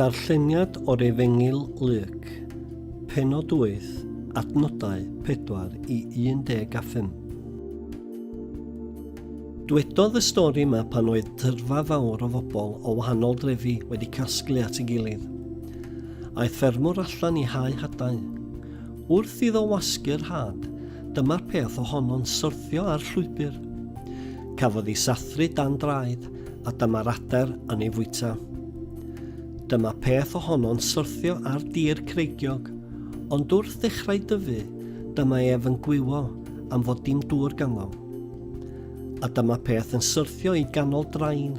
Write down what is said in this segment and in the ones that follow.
Darlleniad o'r Efengyl Luc, penod 8, adnodau 4 i 15. Dwedodd y stori yma pan oedd tyrfa fawr o fobl o wahanol drefi wedi casglu at ei gilydd. Aeth ffermwr allan i hau hadau. Wrth iddo wasgu'r had, dyma'r peth ohono'n syrthio ar llwybr. Cafodd ei sathru dan draed. a dyma'r adar yn ei fwyta. Dyma peth ohono'n syrthio ar dir creigiog, ond wrth ddechrau dyfu, dyma ef yn gwywo am fod dim dŵr ganddo. A dyma peth yn syrthio i ganol drain.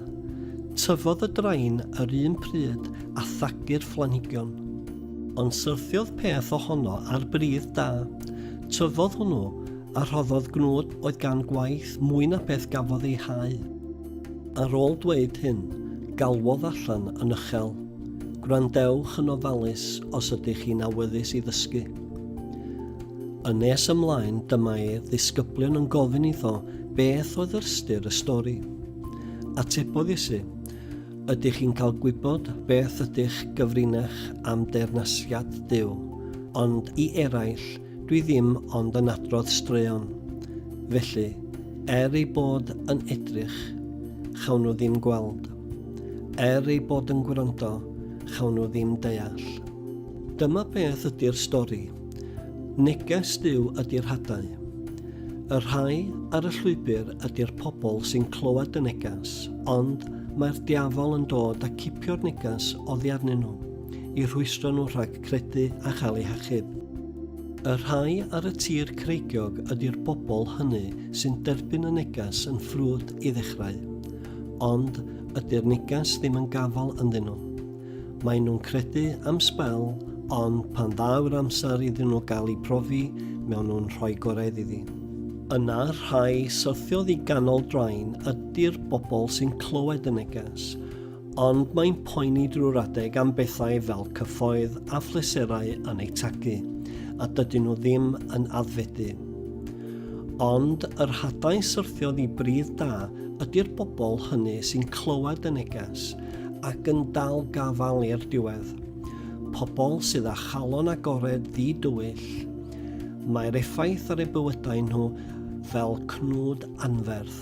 Tyfodd y drain yr un pryd a thagu'r phlanhigion. Ond syrthiodd peth ohono ar bridd da. Tyfodd hwnnw a rhoddodd gnwd oedd gan gwaith mwy na beth gafodd ei hau. Ar ôl dweud hyn, galwodd allan yn uchel, Gwrandewch yn ofalus os ydych chi'n awyddus i ddysgu. Yn nes ymlaen, dyma'i ddisgyblion yn gofyn iddo beth oedd ystyr y stori. Atebodd Iesu, Ydych chi'n cael gwybod beth ydych gyfrinach am deyrnasiad Duw, ond i eraill Dwi ddim ond yn adrodd straeon, felly, er ei bod yn edrych, chawn nhw ddim gweld. Er ei bod yn gwrando, chawn nhw ddim deall. Dyma beth ydy'r stori. Neges Duw ydy'r hadau. Y rhai ar y llwybr ydy'r pobl sy'n clywed y neges, ond mae'r diafol yn dod a cipio'r neges oddi arnyn nhw. i rhwystro nhw rhag credu a chael eu hachub. Y rhai ar y tir creigiog ydy'r bobl hynny sy'n derbyn y negas yn ffrwd i ddechrau. Ond ydy'r negas ddim yn gafael ynddyn nhw. Maen nhw'n credu am sbel, ond pan ddaw'r amser iddyn nhw gael eu profi, mewn nhw'n rhoi gorau iddi. Yna'r rhai syrthiodd i ganol draen ydy'r bobl sy'n clywed y neges, ond mae'n poeni drwy'r adeg am bethau fel cyffoedd a phleserau yn eu tagu, a dydyn nhw ddim yn addfedu. Ond yr hadau syrthiodd i bridd da ydy'r bobl hynny sy'n clywed y neges ac yn dal gafael i'r diwedd. Pobl sydd â chalon agored ddi-dywyll, mae'r effaith ar eu bywydau nhw fel cnwd anferth.